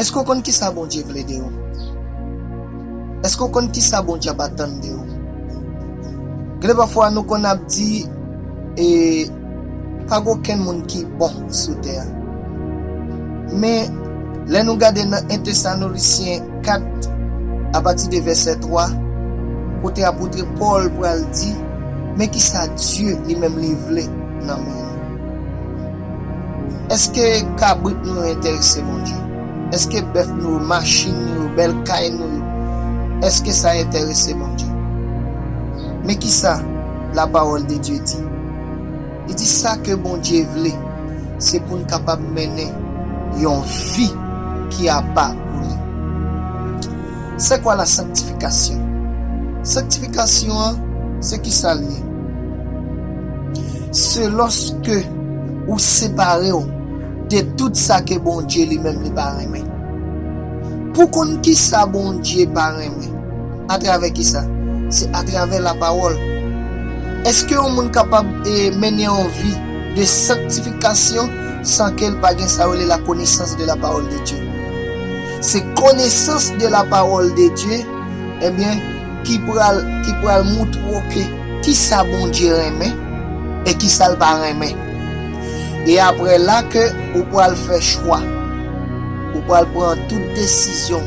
Èske w konn kisa Bondye vle de ou? Èske w konn kisa Bondye ap atann de ou? Gen lè pafwa nou konn ap di e pa gen okenn moun ki bon sou tè a. Men, lè nou gade nan 1 Tesanolisyen 4, apati de vèsè 3, kote apotre Pòl pral di, Men kisa Dye li menm li vle nan men nou. Eske kabrit nou yo enterese Bondye? Eske bèf nou yo, machin nou yo, bèl kay nou yo, eske sa enterese Bondye? Men ki sa Lapawòldedye di, Li di, Sa ke Bondye vle, se pou n kapab mennen yon vi ki apa pou li. Se kwa la sanktifikasyon? Sanktifikasyon an se kisa l ye? Se lòske ou separe w de tout sa ke Bondye li menm li pa renmen. Pou konn kisa Bondye pa renmen, atravè kisa? Se atravè lapawòl. Eske yon moun kapab mennen yon vi de sanktifikasyon san ke l pa gen sa yo rele la konesans de la parole de Dieu? Se konesans de la parole de Dieu ebyen ki pral ki pral moutre w ke kisa Bondye renmen e kisa l pa renmen. E aprè la ke ou pral fè chwa. Ou pral pran tout desizyon,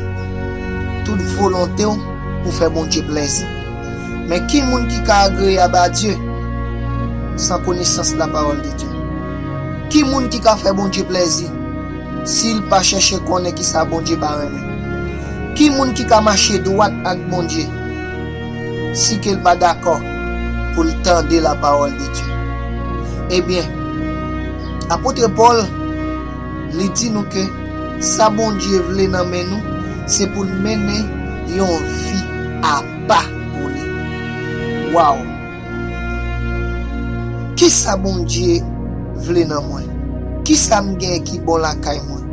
tout volonte w pou fè Bondye plèzi. Men ki moun ki ka agreyab a Dye san konesans la parole de Dieu? Ki moun ki ka fè Bondye plèzi? si l pa chèche konnen ki sa Bondye pa renmen? Ki moun ki ka mache dwat ak Bondye si ke l pa dakò pou l tande lapawòldedye? Ebyen, apotre Pòl, li di nou ke sa Bondye vle nan men nou, se pou n mennen yon vi apa pou li. Waw! Kisa Bondye vle nan mwen? Kisa m gen ki bon lakay mwen?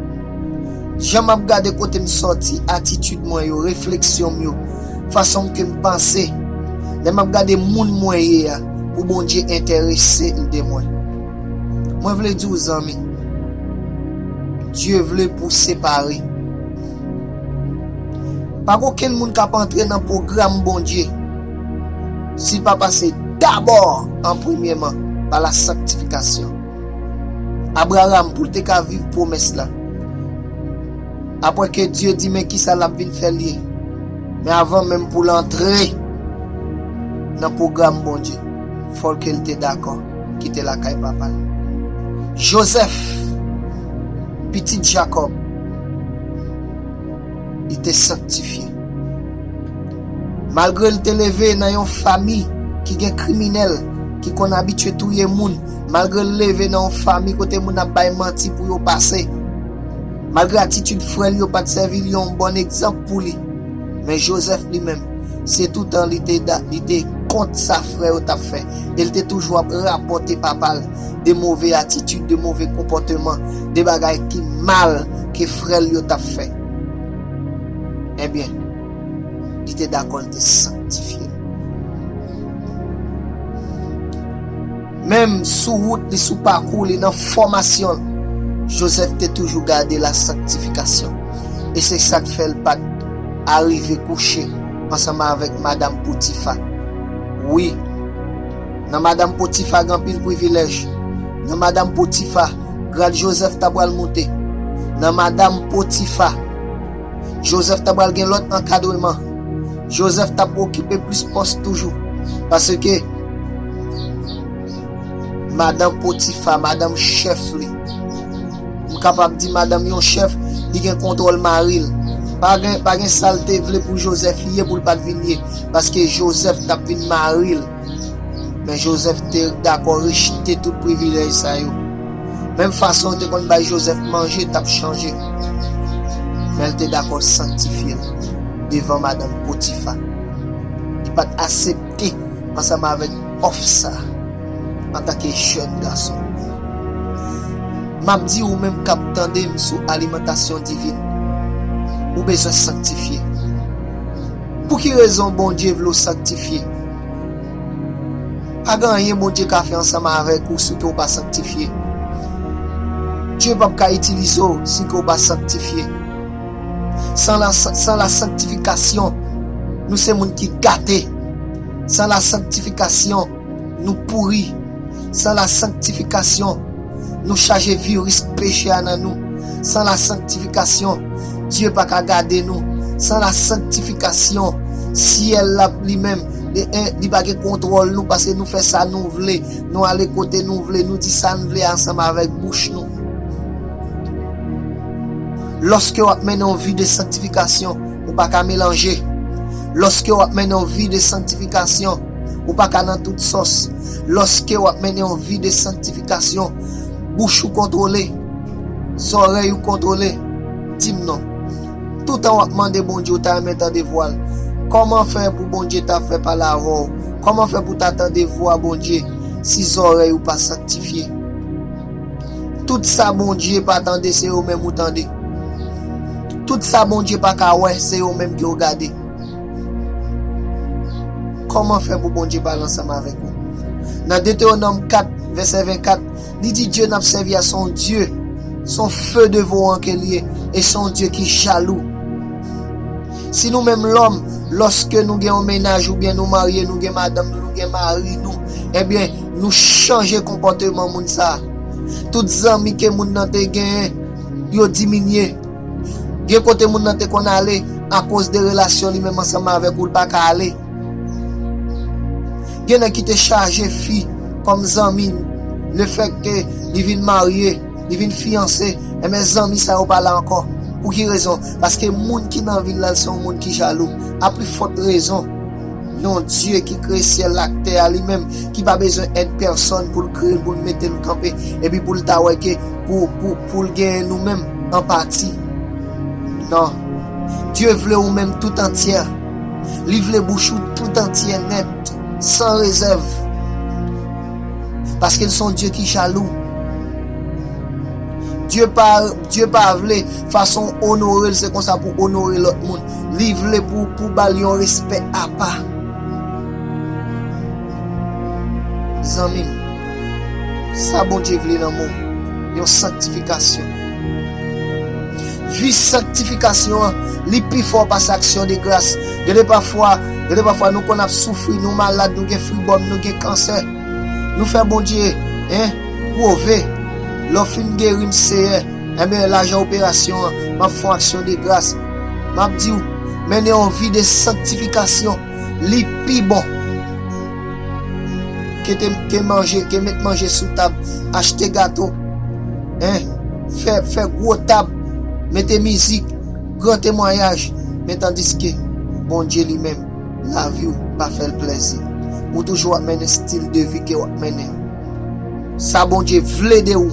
Jan m ap gade kote m sòti, atitid mwen yo, refleksyon m yo, fason ke m panse, lè m ap gade moun mwen ye a pou Bondye enterese l de mwen. Mwen vle di w zanmi, Bdye vle pou w separe. Pa gen okenn moun k ap antre nan pwogram Bondye. si l pa pase dabò an premyèman pa la sanktifikasyon. Abraram, pou l te ka viv pwomès la, apre ke Dye di men kisa l ap vin fè l ye, men avan menm pou l antre nan pwogram Bondye, fò l ke l te dakò kite lakay papa l. Jozèf, pitit Jakòb. li te sanktifye. Malgre l te leve nan yon fami ki gen kriminèl ki konn abitye touye moun, malgre l leve nan yon fami kote moun ap bay manti pou yo pase, malgre atitid frè l yo pa t sèvi l yon bon egzanp pou li, men Jozèf li menm, se toutan li te kont sa frè yo t ap fè e l te toujou ap rapòte papa l. de move atitid, de move konpòteman, de bagay ki mal ke frè l yo t ap fè. Ebyen, li te dakò l te sanktifye. Menm sou wout li, sou pakou li, nan fòmasyon l, Joseph te toujou gade lasanktifikasyon. E se sa k fè l pa t arive kouche ansanm avèk madam Potifa. Wi! Nan madam Potifa gen anpil privilèj. Nan madam Potifa, grad Jozèf ta pral moute. Nan madam Potifa, Jozèf ta pral gen lòt ankadreman. Jozèf t ap okipe plis pòs toujou. Paske, madan Potifa, madanm chèf li, m kapab di madanm yon chèf, li gen kontwòl mari l. Pa gen, pa gen sa l te vle pou Jozèf ye pou l pa t vin ye. Paske Jozèf t ap vin mari l. Men Jozèf te dakò rejte tout privilèj sa yo. Menm fason yo te konn bay Jozèf manje t ap chanje, men l te dakò sanktifye l devan madanm Potifa. Li pa t asepte ansanm avèk òf sa a antanke jèn gason. M ap di ou menm k ap tande m sou alimantasyon divin, ou bezwen sanktifye. Pou ki rezon Bondye vle w sanktifye? Pa gen anyen Bondye ka fè ansanm avèk ou si ke w pa sanktifye. Dye pap ka itilize w si ke w pa sanktifye. San la, san la sanktifikasyon, nou se moun ki gate. San la sanktifikasyon. Nou pouri, san lasanktifikasyon, nou chaje viris peche a nan nou, san lasanktifikasyon, Dye pa ka gade nou, san lasanktifikasyon, syèl la li menm, li en, li pa gen kontwòl nou paske nou fè sa nou vle, nou ale kote nou vle, nou di sa n vle ansanm avèk bouch nou. Lòske w ap mennen yon vi de sanktifikasyon, ou pa ka melanje. Lòske w ap mennen yon vi de sanktifikasyon, Ou pa ka nan tout sòs. Lòske w ap mennen yon vi de sanktifikasyon, bouch ou kontwole, zòrèy ou kontwole. Di m non. Toutan w ap mande Bondye, ou ta renmen tande vwa l. Kòman fè pou Bondye ta fè pale avè w? Kòman fè pou w ta tande vwa Bondye si zòrèy ou pa sanktifye? Tout sa Bondye pa tande se yo menm ou tande. Tout sa Bondye pa ka wè se yo menm ke w gade. Kòman fè pou Bondye pale ansanm avèk ou? Nan Detewonòm 4, vèsè 24, li di Dye n ap sèvi a se yon Dye, se yon few devoran ke l ye, e se yon Dye ki jalou. Si nou menm lòm, lòske nou gen yon mennaj oubyen nou marye, nou gen madanm nou, nou gen mari nou, ebyen, nou chanje konpòteman moun sa a. Tout zanmi ke moun nan te genyen, yo diminye. Gen kote moun nan te konn ale, akoz de relasyon li menm ansanm avèk ou l pa ka ale. Gen nèg ki te chaje fi kòm zanmi, lefèt ke li vin marye, li vin fiyanse, enben zanmi sa yo pa la ankò. Pou ki rezon? Paske moun ki nan vi l la l se yon moun ki jalou. A pli fòt rezon, yon Dye ki kreye syèl la ak tè a li menm, ki pa bezwen èd pèsòn pou l kreye l, pou l mete l kanpe, epi pou l ta wè ke pou. Pou l genyen nou menm an pati. Non. Dye vle ou menm tout antyè. Li vle bouch ou tout antyè nèt, san rezèv. Paske l se yon Dye ki jalou. Dye pa, Dye pa vle, fason w onore l se konsa pou w onore lòt moun. Li vle pou, pou w ba l yon respè apa. Zanmi m. Sa Bondye vle nan mwen, yon sanktifikasyon. Viv sanktifikasyon an, li pi fò pase aksyon de gras. Gen de pafwa, gen de pafwa nou konn ap soufri, nou malad, nou gen fribòm, nou gen kansè. Nou fè Bondye, hein, pwove, lè w fin geri m Seyè, enben lajan operasyon an, m ap fè yon aksyon de gras. M ap di w, mennen yon vi de sanktifikasyon, li pi bon. Ke met manje sou tab Achte gato Fè gwo tab Mete mizik Gran temwayaj Men tandiske Bondye li menm Lavi w pa fè l plèzi Ou toujou ap mennen stil de vi ke w ap mennen an Sa Bondye vle de ou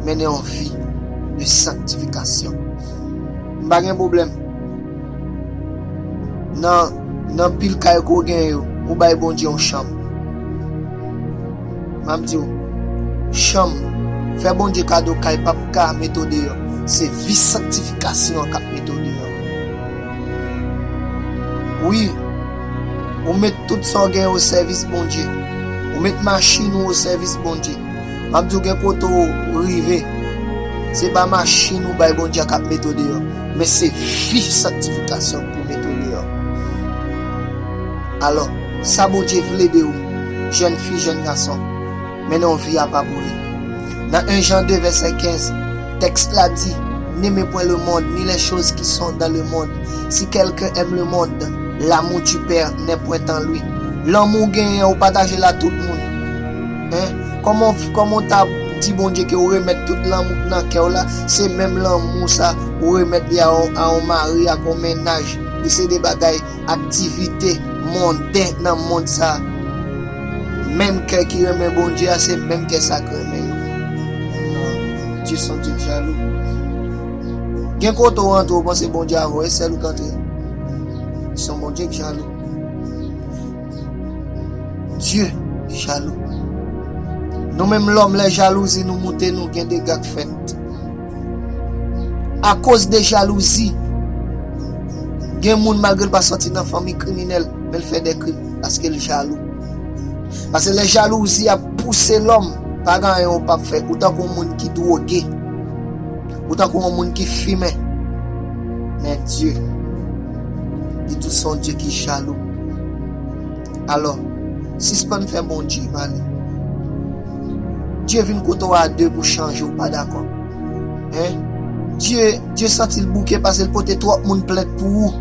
Mennen yon vi de sanktifikasyon M pa gen pwoblèm Nan Nan pil kay ke w genyen yo, ou bay Bondye yon chanm. M ap di w, chanm, fè Bondye kado kay pa p ka mete w deyò. Se vi sanktifikasyon an k ap mete w deyò. Wi, ou met tout sa w genyen osèvis Bondye. Ou met machin ou osèvis Bondye. M ap di w gen kote w rive, se pa machin ou bay Bondye a k ap mete w deyò. Men se vi sanktifikasyon pou mete w deyò. Alò, sa Bondye vle de ou, jèn fi, jèn gason, mennen yon vi apa pou li. Nan 1 Jan 2 vèsè 15, tèks la di, N'aimez point le monde, ni les choses qui sont dans le monde. Si quelqu'un aime le monde, l'amour du Père n'est point en lui. Lanmou w genyen an ou pataje l a tout moun. Hein Koman w koman w ta Di Bondye ke w remèt tout lanmou k nan kè w la se menm lanmou sa ou remèt li a yon mari ak yon mennaj li se 2 bagay aktivite monden nan mond sa menm kè ki renmen Bondye a se menm kè sa k renmen yo nan Dye son Dye k jalou gen kote w antre w panse Bondye a voye sèl ou k antre son Bondye k jalou. Dieu jalou. Nou menm lòm lè jalouzi nou moute nou gen dega k fèt. A koz de jalouzi gen moun malgre l pa sòti nan fanmi kriminèl men l fè de krim paske l jalou. Pase lè jalouzi ap pouse lòm pa gen anyen ou pap fè ou tankou yon moun ki dwoge. Ou tankou yon moun ki fimen. Men Dye, li tou se yon Dye ki jalou. Alò, sispann fè Bondye male. Dye vin kote w a de pou chanje ou pa dakò. Hein? Dye, Dye santi l bouke pase l pote twòp moun plent pou ou.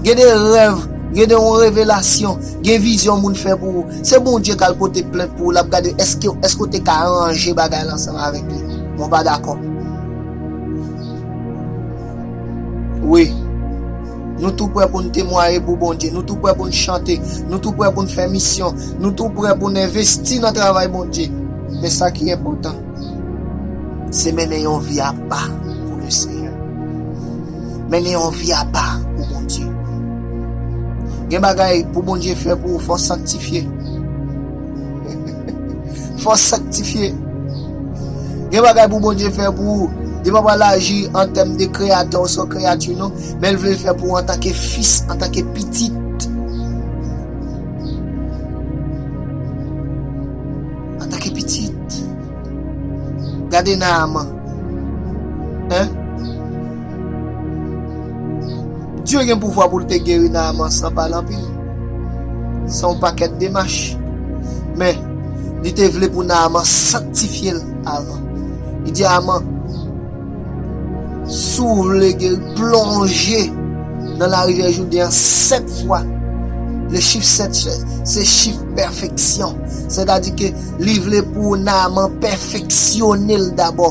Gen de rèv, gen de yon revelasyon, gen vizyon moun fè pou ou. Se Bondye k al pote plent pou ou, l ap gade èske, èske ou te ka aranje bagay la ansanm avèk li. Mwen pa dakò. Wi. Nou tou prè pou n temwaye pou Bondye. Nou tou prè pou n chante. Nou tou prè pou n fè misyon. Nou tou prè pou n envesti nan travay Bondye. Men sa ki enpòtan, se mennen yon vi apa pou Lesenyè. Mennen yon vi apa pou Bondye. Gen bagay pou Bondye fè pou ou, fò w sanktifye. Fò sanktifye. Gen bagay pou Bondye fè pou ou. Li pa pral aji an tèm de kreyatè ou sou kreyati non, men l vle l fè pou ou antanke fis, antanke pitit. Antanke pitit. Gade Naaman. Hein? Dye gen pouvwa pou l te geri Naaman san pale anpil, san yon pakèt demach. Men, li te vle pou Naaman sanktifye l avan. Li di Aman, Si w vle geri, plonje nan larivyè Jouden an sèt fwa. Le chif sèt se chif pèfeksyon. Sètadi ke li vle pou Naaman pèfeksyone l dabò.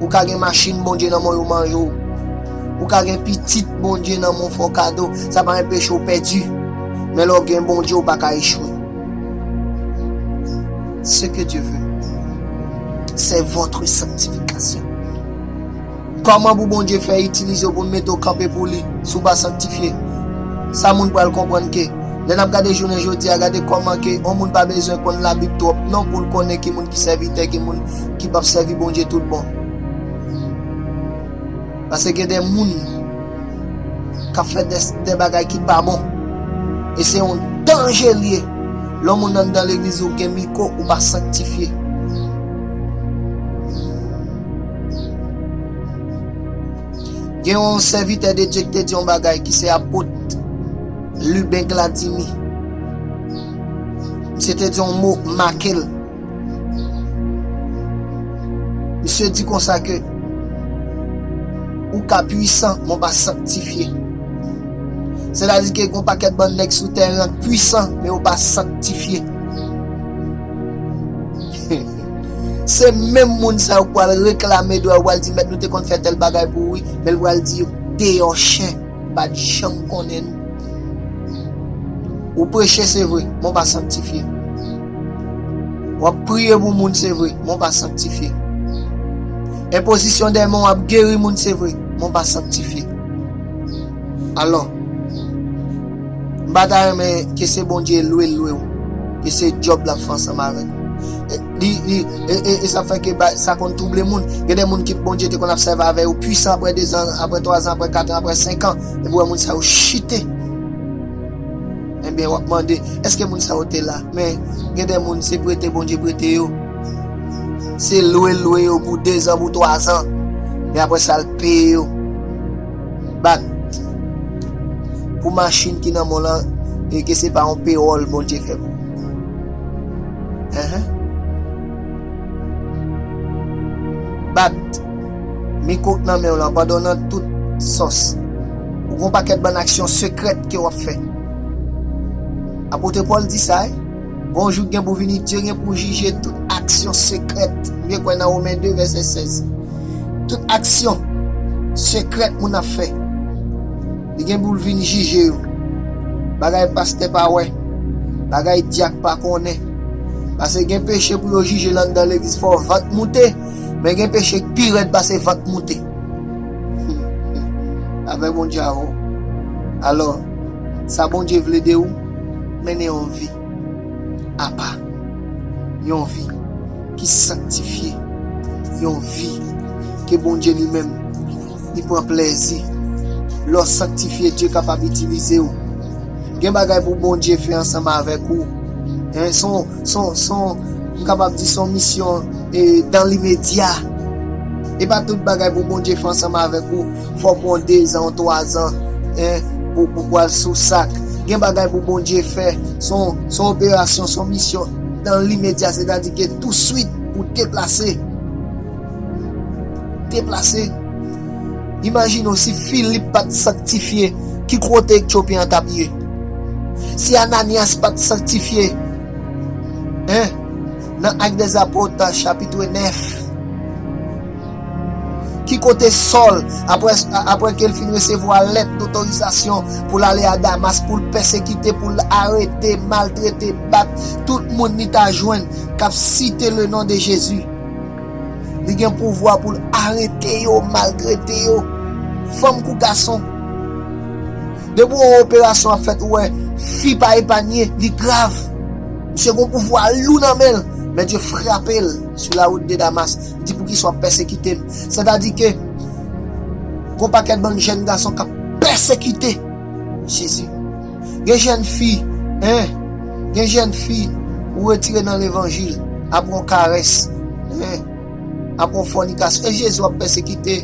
Ou ka gen machin Bondye nan men yo manje w. Ou ka gen pitit Bondye nan men w fè w kado, sa pa enpeche w pèdi. Men lè w gen Bondye ou pa ka echwe. Ce que Dieu veut c'est votre sanctification. Kòman pou Bondye fè itilize w pou l mete w kanpe pou li si w pa sanktifye? Sa moun pral konprann ke lè n ap gade jounen jodi a gade kòman ke yon moun pa bezwen konn labib twòp non pou l konnen ki moun ki sèvitè ki moun ki pap sèvi Bondye tout bon. Pase gen de moun kap fè de bagay ki pa bon. E se yon danje li ye lè yon moun anndan legliz ou gen miko ou pa sanktifye. Gen yon sèvitè de Dye ki te di yon bagay ki se apot Luben Gladimy. Misye te di yon mo make l. Misye di konsa ke, Ou ka pwisan, men w pa sanktifye. Sètadi ke gen yon pakèt bann nèg sou tèren an k pwisan, men yo pa sanktifye. Se menm moun sa yo k pral reklame dwa yo, pral di, Mèt, nou te konn fè tèl bagay pou ou wi. Men l pral di yo, Deyò chen, m pa t janm konnen nou. Ou preche, se vre, men w pa sanktifye. Wap priye pou moun se vre, men w pa sanktifye. Enpozisyon dè men w ap geri moun se vre, men w pa sanktifye. Alò, m pa ta renmen ke se Bondye lwe l lwe w, ke se djòb l ap fè ansanm avèk ou. E sa fè ke sa konn twouble moun. Gen de moun ke Bondye te konn ap sèvi avè yo pwisan aprè dezan, aprè twazan, aprè katan, aprè senkan, epi w wè moun sa yo chite. Enben, w ap mande, 'Èske moun sa yo te la? Men, gen de moun, se prete Bondye prete yo. Se lwe lwe yo pou dezan, pou twazan. Men apre sa, l peye yo. Bat. Pou machin ki nan men w lan, e ke se pa yon pewòl Bondye fè pou ou. Bat. Miko k nan menw lan pandan nan tout sòs ou gon pakèt bann aksyon sekrèt ke wap fè Apotre Paul di sa wi gon jou k gen pou vini Dye gen pou jije tout aksyon sekrèt ou byen kwè nan Romen 2 vèsè 16 tout aksyon sekrèt moun ap fè li gen poul vin jije yo bagay pastè pa wè bagay dyak pa konnen pase gen peche pou yo jije l anndan legliz fò vant moute. Men gen peche k pi rèd pase vant moute. Afè Bondye a wo. Alò, sa Bondye vle de ou, mennen yon vi apa, yon vi ki sanktifye, yon vi ke Bondye li menm li pran plèzi. Lè w sanktifye, Dye kapab itilize w. Gen bagay pou Bondye fè ansanm avèk ou. m kapab di se yon misyon dan limedya. E pa tout bagay pou Bondye fè ansanm avèk ou, fòk ou an dezan, ou twazan pou ou pral sou sak. Gen bagay pou Bondye fè, se yon operasyon, se yon misyon dan limedya, sètadi ke touswit pou deplase. Deplase. Imajine w si Filip pa t sanktifye, ki kote Etyopyen an t ap ye? Si Ananyas pa t sanktifye, 1 Nan Actes des Apôtres chapitre 9, ki kote Sòl, apre ke l fin resevwa lèt dotorizasyon pou l ale a Damas, pou l pèsekite, pou l arete, maltrete, bat tout moun li ta jwenn k ap site lenon de Jezi? Li gen pouvwa pou l arete yo, maltrete yo, fanm kou gason. Depi w wè yon operasyon ap fèt, ou wè fi pa epanye, li grav. Misye gen yon pouvwa lou nan men l. Men Dye frape l sou lawout de Damas. Li di, Poukisa w ap pèsekite m? Sètadi ke gen yon pakèt bann jèn gason k ap pèsekite Jezi. Gen jèn fi, hein, gen jèn fi ou retire nan levanjil apre yon karès, hein, apre yon fònikasyon e Jezi wap pèsekite?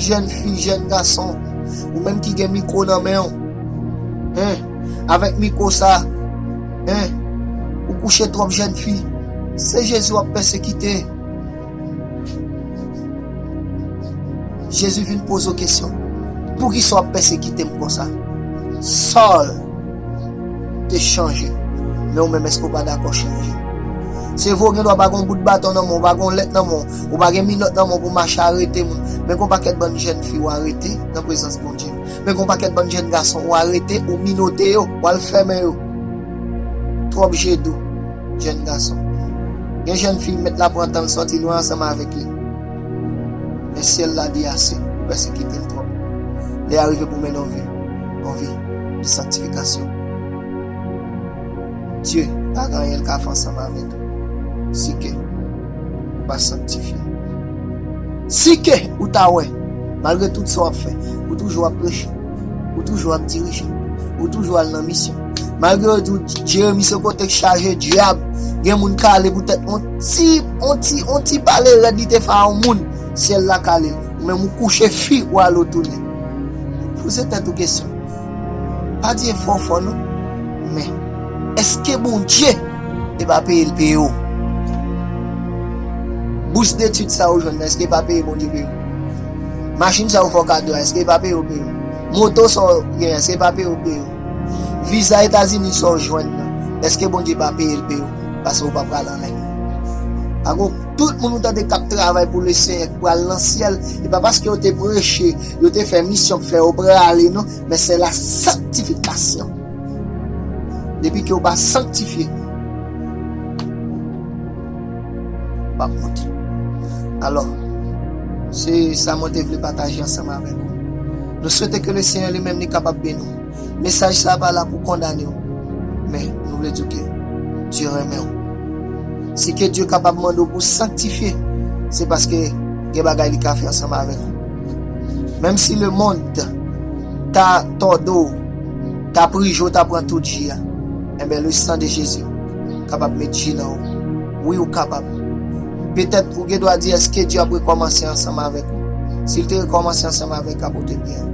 Jèn fi, jèn gason, ou menm ki gen mikwo nan menw, hein, avèk mikwo sa, hein, ou kouche twòp jèn fi, se Jezi wap pèsekite? Jezi vin poze yo kesyon, Poukisa w ap pèsekite m konsa? Sòl te chanje, men ou menm èske w pa dakò chanje? Se vre w gendwa pa gen yon bout baton nan men w, pa gen yon lèt nan men w, ou pa gen minòt nan men w pou w mache arete moun, men gen yon pakèt bann jèn fi w arete nan prezans Bondye, men gen yon pakèt bann jèn gason ou arete, ou minote yo, w al fèmen yo. Twòp je dou, jèn gason. Yon jèn fi mèt la pran tan l sòti lwen ansanm avèk li. Men syèl la di ase, ou pèsekite m twòp. Lè a rive pou mennen w viv yon vi de sanktifikasyon. Bondye pa gen anyen l ka fè ansanm avèk ou si ke ou pa sanktifye. Si ke ou ta wè, malgre tout sa w ap fè, ou toujou ap peche. Ou toujou ap dirije. Ou toujou al nan misyon. Malgre yo di w Jeremi se yon kotek chaje dyab, gen moun kale pou tèt yon ti, yon ti, yon ti pale rèd li te fè a yon moun, syèl la kale l. Ou menm ou kouche fi, ou ale ou tounen. Poze tèt ou kesyon. Pa di efò w fò non. Men, èske Bondye te pa peye l peye w? Bous detid sa ou jwenn nan, èske pa peye Bondye peye w? Machin sa ou fè w kado a eske yo pa peye w pou yo? Moto sa w gen an eske yo pa peye w pou yo? Viza Etazini sa w jwenn nan eske Bondye pa peye l pou yo paske ou pa pral an lènn? Pa gon tout moun ou tande kap travay pou Lesenyè ki pral nan syèl, e pa paske yo te preche, yo te fè misyon k fè yo prale non, men se la sanktifikasyon. Depi ke ou pa sanktifye. w ap monte. Alò, se sa mwen te vle pataje ansanm avèk ou. Nou swete ke Lesenyè Li menm Li kapab beni w. Mesaj sa a pa la pou kondane w, men nou vle di w ke Dye renmen w. Si ke Dye kapab mande w pou w sanktifye, se paske gen bagay Li ka fè ansanm avèk ou. Menm si lemonn ta tòde w, ta prije w, ta pran tout ji a, enben le san de Jezi kapab met ji nan ou. Wi ou kapab. Petèt ou gen dwa di èske Dye ap rekòmanse ansanm avèk ou? Si l te rekòmanse ansanm avèk Apotre Pierre,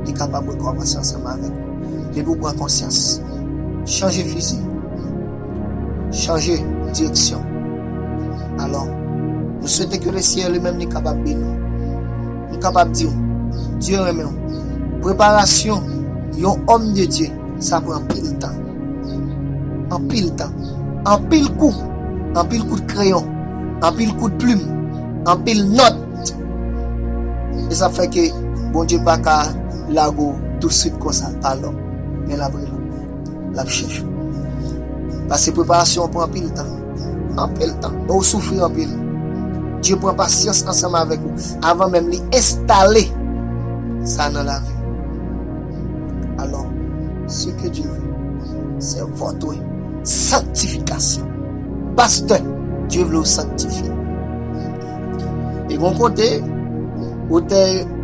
li kapab rekòmanse ansanm avèk ou. Depi ou pran konsyans. Chanje fizi. Chanje direksyon. Alò, nou swete ke le Seyè li menm li kapab beni ou. M kapab di ou, Dye renmen ou. Preparasyon yon òm de Dye. Sa pran anpil tan. Anpil tan. Anpil kou. Anpil kout kreyon. Anpil kout plim. Anpil nòt. E sa fè ke Bondye pa ka lage w tousuit konsa pa lè w. Men l ap rele w. L ap chèche w. Paske preparasyon an pran anpil tan. Anpil tan. E w soufri anpil. Bondye pran pasyans ansanm avèk ou avan menm li enstale sa nan lavi w. Alors, ce que Dieu veut, c'est votre sanctification. Pastè, Dieu vle ou sanktifye. E gon kote, otè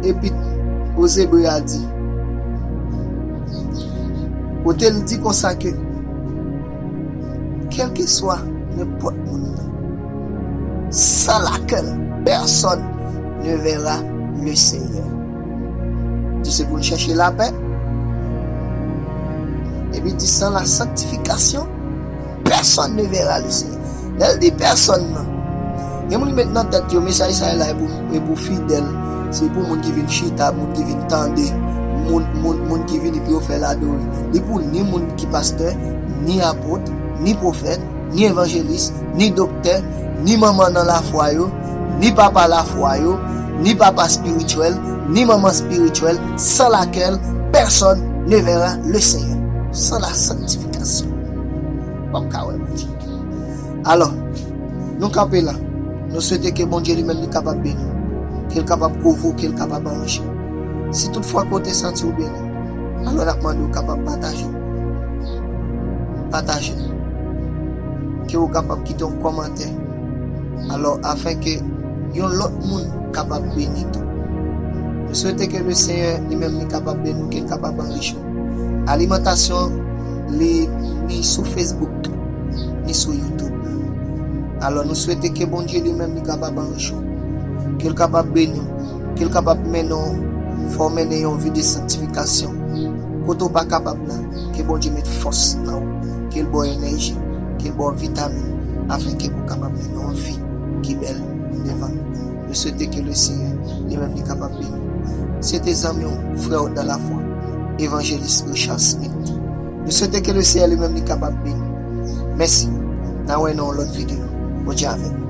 epit Ozebre a di, kote l di konsa ke, kelkeswa nenpòt moun nan, san lakèl pèsòn ne vera le Senyè. Di se pou n chèche lapè, epi di san la sanktifikasyon, pèsòn ne vera le Senyè. Lè l di pèsòn nan, gen moun ki met nan tèt yo mesaj sa la e pou fidèl, se pou moun ki vin chita, moun ki vin tande, moun ki vini pou yo fè l adore. Li pou ni moun ki pastè, ni apot, ni pwofèt. ni evanjelis, ni doktè, ni manman nan lafwa yo, ni papa lafwa yo, ni papa spirityèl, ni manman spirityèl, san lakèl pèsòn ne vèra le Senyè. San la sanktifikasyon, ou pap ka wè Bondye. Alò, nou kanpe la, nou swete ke Bondye li menm li kapab beni w, ke l kapab kouvri w, ke l kapab aranje w. Si tout fwa ke w te santi w beni, alò n ap mande w kapab pataje. Pataje l. Ke ou kapab kite yon kòmantè. Alò afin ke yon lòt moun kapab beni tou. M swete ke le Senyè li menm li kapab beni w, ke l kapab anrichi w. Alimantasyon li ni sou Facebook, ni sou YouTube. Alò nou swete ke Bondye li menm li kapab anrichi w. Ke l kapab beni w. Ke l kapab mennen w fè w mennen yon vi de sanktifikasyon. Kote w pa kapab la, ke Bondye met fòs nan w, ke l ba w enèji, ke l ba w vitamin afin ke pou w kapab mennen yon vi ki bèl devan l. Nou swete ke Lesenyè li menm li kapab beni w. Se te zanmi w, frè w dan lafwa, Evanjelis Richard Smith. Nou swete ke Lesenyè li menm li kapab beni w. Mèsi. N a wè nan yon lòt videyo. Bondye avèk nou.